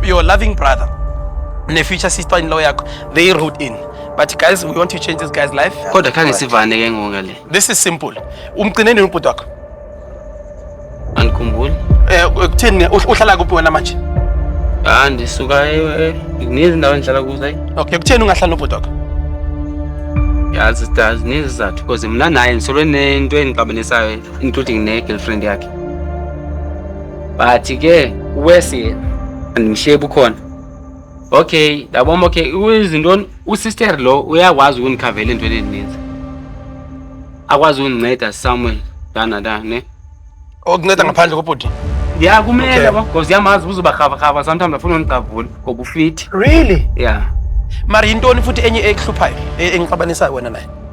your loving brother ne future sister in law yakho they wrote in but guys we want to change this guy's life kodwa khange sivane ke ngoku ngale this is simple umcine nini ubhuti wakho andikhumbuli eh kutheni uhlala kuphi wena manje ah ndisuka nezindawo endihlala kuzo ayi okay kutheni ungahlala nobhuti wakho yazi stars nezizathu because mna naye ndisolwe nento endixabanisayo including ne-girlfriend yakhe but ke uwesi andimshiye bukhona okay ndabombo ke izintoni usister lo uyakwazi ukundikhavela into eninzi akwazi ukundinceda somewhere dana da ne okunceda ngaphandle kobhuti ya kumele Okay. because yamazi uzobarhavarhava sometimes afuna undigqavula ngoba ufithi really ya mari yintoni futhi enye ekuhluphayo e- engixabanisayo wena naye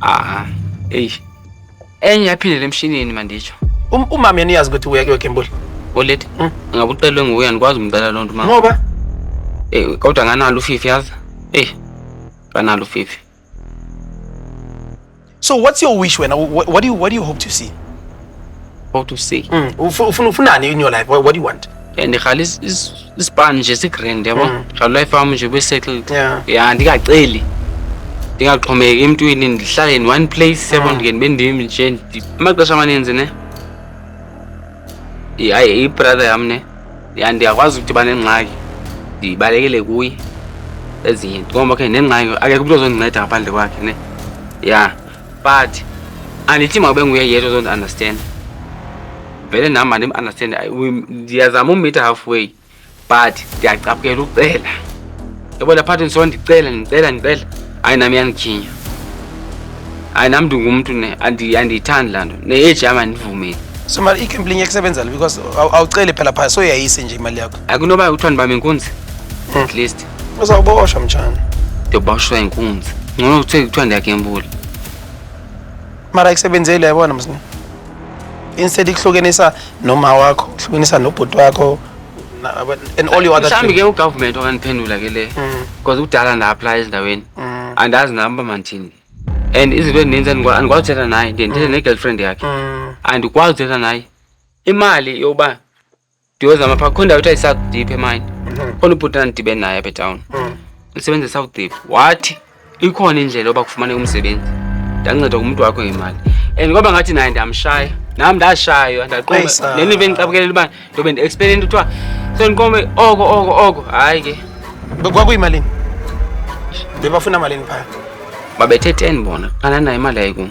Aha. Eyi. Enye yaphindela emshinini manditsho. Um, umama yaniyazi ukuthi uya kuyo Kembuli. Oleti. Hmm? Ngabe ucelwe nguwe andikwazi umcela loo nto mama. Ngoba? Eh kodwa nganalo ufifi yazi. Eh. Nganalo ufifi. So what's your wish wena? What, what do you what do you hope to see? how to say mm. ufuna ufunani in your life what, what do you want and ndirhala isipani nje sigrand yabo mm. ndikhala ulife wam nje besettled ya ndingaceli ndingaxhomeki emntwini ndihlale in one place yabo mm. ndike ndibe ndim nje amaxesha amaninzi ne hayi ibrother yam ne ya ndiyakwazi ukuthi banengxaki ndibalekele kuye ezinye nto ngoba ke nengxaki akekho umntu ozondinceda ngaphandle kwakhe ne ya yeah. but andithi mawube nguye yedwa ozondiunderstand vele nam mandim-understand ndiyazama umitha halfway but ndiyacaphukela ucela yabona phathi ndiso ndicela ndicela ndicela hayi nam iyandikhinya hayi nam ndingumntu ne andiyithandi laa nto ne-age yam andivumeli so mali ikhempli inye kusebenzela because awuceli phela phaya soyayise nje imali yakho akunoba kuthiwa ndibambe inkunzi hmm. at least Uzawuboshwa mtshana. Ndiyoboshwa inkunzi. Ngcono kuthiwe kuthiwa ndiyagembula. Mara ikusebenzeli yabona msini. Instead ikuhlukenisa noma wakho, ikuhlukenisa nobhuti wakho na- aba- and all your other Mhlawumbi ke things. ugovernment okaniphendula ke le. Mm, Because kudala nda-aplaya ezindaweni. mm, Andazi nam uba mandithini. And izinto ezininzi andikwa- andikwazi uthetha naye. Ndiye ndithethe ne-girlfriend yakhe. mm. andikwazi uthetha naye imali yokuba ndiyozama phaa kukho ndawo kuthiwa yisouth deep emayini khona ubhuti andidibene naye apha etawuni usebenza esouth deep wathi ikhona indlela yoba kufumaneka umsebenzi ndanceda kumntu wakho ngemali and kwaba ngathi naye ndiyamshaya nam ndashaywa ndaqoba le nto bendicabukelela uba ndobe ndi-expele into kuthiwa so ndiqome oko oko oko hayi ke kwakuyimalini bebafuna malini phaya babethe ten bona qala nayo imali yayikum